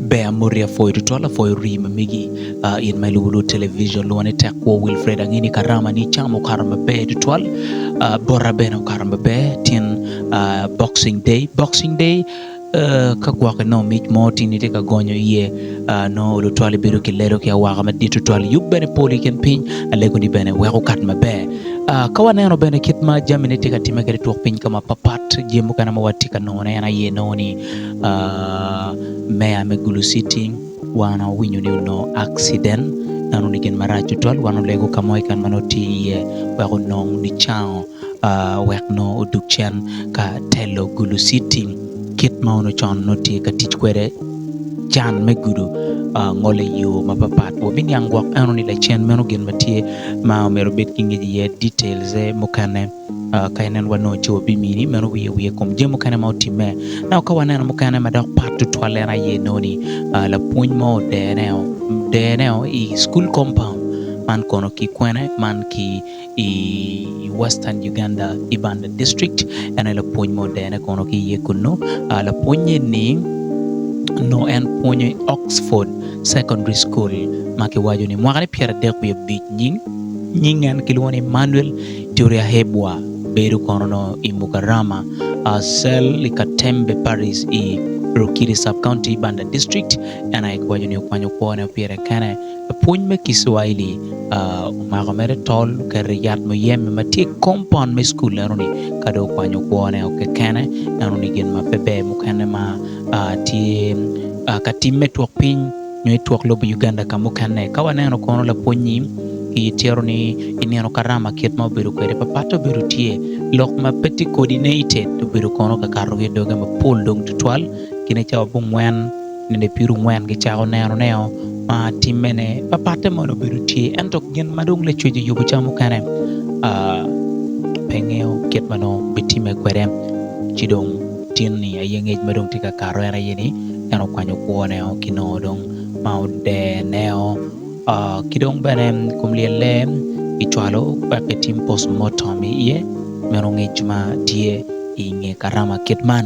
Ber amoti apwoyo tutwal apwoyo rii ma megi uh, in ma ilubo lwod television lwongo ni tek kwo Wilfred ange ni karama ni cam okato maber tutwal uh, bota bene okato maber tin uh, boxing day boxing day uh, ka gwok inongo mic mo tin itye ka gonyo iye uh, nongo lutwal ibedo ki lelo ki awaka madit tutwal yub bene pol i kin piny alego ni bene weko kat maber uh, ka waneno bene kit ma jami ne tye ka time kede twok piny ka ma papat jami mukene ma watye ka nongo ne en aye nongo ni Meya me Gulu City wan owinyo ni onongo accident en onongo gin marac tutwal wan olego ka mo keken ma nongo tye iye wek onong nicango wek nongo odug cen ka telo Gulu City kit ma onongo con nongo tye ka tic kwede can me gudo ngole iyo mapapat wabiniang gwok eno ni lacen meno gin ma tye ma myero obed ki ngec iye details-ze mukene. Ka ineno wat nongo co bimini meno wiye wiye kom jami mukene ma otimme. Nongo ka waneno mukene ma dok pat tutwal en aye nongo ni lapwony mo odene odene i school compound man kono ki kwene man ki i western Uganda Ibanda district en aye lapwony mo odene kono ki iye kunu. Lapwony eni nongo en pwonyo i Oxford secondary school ma kiwaco ni mwaka ne pyera dek wiye abic nying nying en kilwongo ni Manuel Kiriahebwa bedo kono nongo i Mukarama cell i Katembe Parish i Rukiri Sub-County, Banda District. En aye kiwaco ni okwanyo kwone pire kene. Lapwony me Kicuaili omako mere tol oketo i yat muyeme ma tye i kompaun me cukul enoni. Ka dong okwanyo kwone o kekene, enoni gin ma pe ber mukene ma tye ka timme twok piny. nyo i twok lobo Uganda ka mukene. Ka waneno kono lapwony-nyi i tyero ni i nino karama kit ma obedo kwede pa patte obedo tye. Lok ma pe tye kodi nated obedo kono ka kato ki doge ma pol dong tutwal kine cawa bungwen nende piru ngwen ki cako neno neo ma timme ne pa patte mono obedo tye. Ento gin ma dong lacwec oyubo ca mukene pe ngeyo kit ma nongo bitimme kwede ci dong. Tin-ni aye ngec ma dong tye ka kato en aye ni en okwanyo kwone o ki nongo dong ma odene o. Ki dong bene kom lyelle kicwalo wek etim postmortem iye, meno ngec ma tye i nge karama kit man.